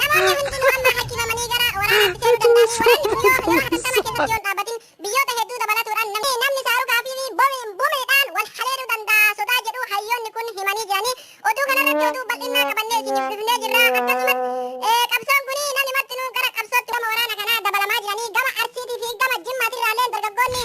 Namoonni hundinuu amma harkifamanii gara waraanaatti seenuu danda'anii waraanni kun yoo yeroo hatattamaa keessatti yoo hin dhaabbatin biyyoota hedduu dabalatuudhaan namni namni saarukaa fi bomi- bomiidhaan wal haleeluu danda'a sodaa jedhu hayyoonni kun himanii jiranii oduu kanarratti oduu bal'innaa qabannee isiniif dhufnee jirra akkasumas eh, qabsoon kun namni martinuu gara qabsootti gama waraana kanaa dabalamaa jiranii gama arsiitii fi gama jimmaatirraallee dargaggoonni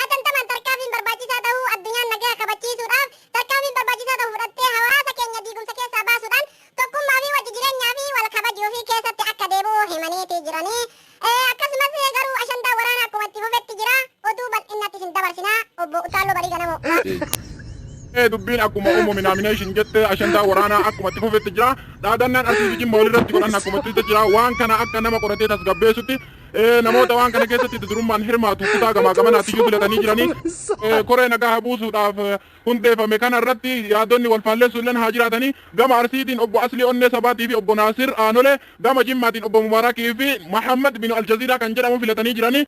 Hatantamaan tarkaafiin barbaachisaa tahuu addunyaan nagaha kabachiisuudhaaf tarkaanfiin barbaachisaa tahu fudhattee hawaasa keenya diigumsa keessaa baasuudhaan tokkummaa fi wajji jireenyaa fi wal kabajuu fi keessatti akka deebi'u himaniiti jirani. Akkasumas garuu ashandaa waraana akkuma itti fufetti jira. Oduu bal'innatti isin dabarsina. Obbo Uttaalloo Barii Ganamoo. Ee dubbiin akkuma uumame naamineeshin jette ashandaa waraanaa akkuma itti fufetti jira. Dhaadannaan asii fi jimma walirratti godhan akkuma itti jira. Waan kana akka nama qoratee tasgabbeessutti Namoota waan kana keessatti adda durummaan hirmaatu kutaa gamaa gamanaatiyyuu filatanii jiranii koree nagaa buusuudhaaf hundeeffame kana irratti yaadonni wal faallessu illeen haa jiraatanii gama Arsiitiin obbo Aslii Onnee Sabaatii fi obbo Naasir Aanolee gama Jimmaatiin obbo Mubaarakii fi Mahammad Binu Aljaziiraa kan jedhamu filatanii jiranii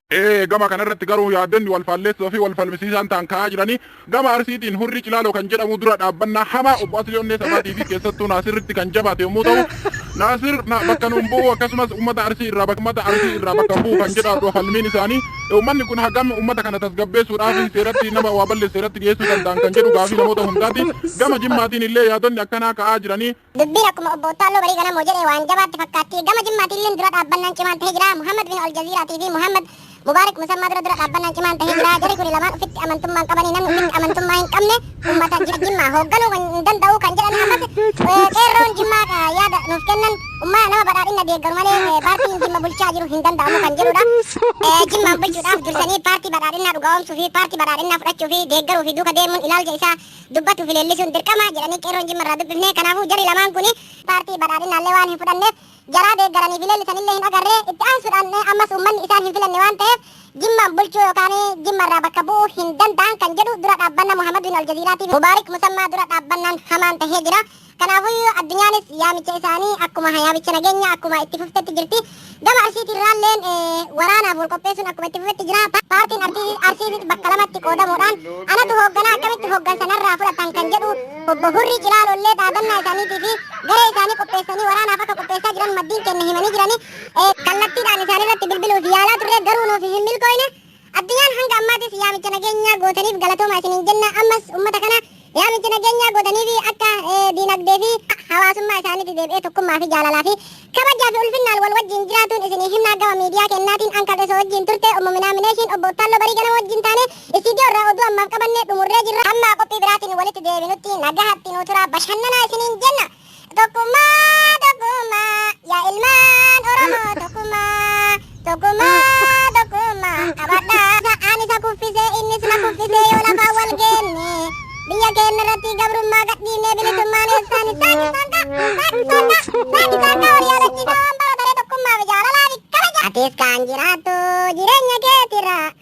gama kana irratti garuu yaadonni wal faallessoo fi wal falmisiisaan ta'an ka'aa jiranii Gama Arsiitiin Hurrii Cilaaloo kan jedhamu dura dhaabbannaa hamaa Obbo Aslii Onnee Sabaatii fi keessattuu Naasirritti kan jabaate yommuu ta'u, Naasir bakka nuun bu'u akkasumas uummata Arsii irraa bakka uummata Arsii irraa bakka bu'u kan jedhaadhu falmiin isaanii. Uummanni kun hagam uummata kana tasgabbeessuudhaaf seeratti nama waa balleesse seeratti dhiyeessuu danda'an kan jedhu gaafii namoota hundaati. Gama Jimmaatiin illee yaadonni akkanaa ka'aa jiranii. Dubbiin akkuma Obbo Uttaalloo Barii Ganamoo jedhe waan jabaatti fakkaatti. Gama Jimmaatiilleen dura dhaabbannaan cimaan tahee jira. Muhammad bin Aljaziiraatii fi Muhammad Mubaarik Musammaa dura dura dhaabbannaan cimaan tahee jira. Jarri kuni lamaan ufitti amantummaan qabanii namni ufitti amantummaa hin qabne ummata Ji- Jimmaa hoogganuu kan hin danda'u kan jedhan ammas eh, qeerroon Jimmaa ka yaada nuuf kennan ummaa nama badhaadhina deeggaru malee eh, paartiin Jimma bulchaa jiru hin danda'amu kan jedhudha. Eh, Jimmaan bulchuudhaaf dursanii paartii badhaadhinaa dhugaa'omsuu fi paartii badhaadhinaa fudhachuu fi deeggaruu fi duuka deemuun ilaalcha isaa dubbatu fi leellisuun dirqama jedhanii qeerroon Jimma irraa dubbifne. Kanaafuu jarri lamaan kun paartii badhaadhinaallee waan hin fudhanneef jaraa deeggaranii fi leellisanillee hin agarre. Itti aansuudhaan ammas uummanni isaan hin filanne waan ta'eef Jimmaan bulchuu yookaan Jimma irraa bakka bu'uu hin danda'an kan jedhu dura dhaabbanna Muhammad bin Aljaziiraatiif Mubaarik Musammaa dura dhaabbannaan hamaan tahee jira. Kanaafuyyuu addunyaanis yaamicha isaanii akkuma yaamicha nageenya akkuma itti fuftetti jirti. Gama Arsiitiirraalleen waraanaaf wal qopheessuun akkuma itti fufetti jira. Paartiin Arsiitis bakka lamatti qoodamuudhaan anatu hoogganaa akkamitti hooggansa narraa fudhatan kan jedhu obbo Hurrii Cilaaloollee dhaadannaa isaaniitii fi garee isaanii qopheessanii waraanaaf akka qopheessaa jiran maddiin keenya himanii jirani. Kallattiidhaan isaanirratti bilbiluuf yaalaa turre garuu nuuf hin milkooyne. Addunyaan hanga ammaatis yaamicha nageenyaa gootaniif galatoomaa isiniin jenna. Ammas ummata kana yaamicha nageenyaa gootaniifi akka diinagdee fi hawaasummaa isaaniitti deebi'ee tokkummaa fi jaalalaa fi kabajaa fi ulfinnaan wal wajjiin jiraatuun isinii himnaa gama miidiyaa keennaatiin an kadheso wajjiin turte ummu minaamineeshiin obbo Ottaalloo Barii Ganama wajjiin taane istiidiyoo irraa oduu ammaaf qabanne dhumurree jirra. Hamma qophii biraatiin walitti deebinutti nagahatti nuu turaa bashannanaa isiniin jenna. Tokkummaa tokkummaa yaa ilmaan Oromoo tokkummaa tokkummaa tokkummaa qabadhaa. Isa aan isa kuffise innis na kuffise yoo lafaan wal geenne biyya keenya irratti gabrummaa gadhiifnee bilisummaan eessaan isaan isaan kaa isaan isaan kaa isaan isaan kaa walii agarsiisaa waan bara daree tokkummaa fi jaalalaa fi kabaja. Atis kan jiraattu jireenya keetirraa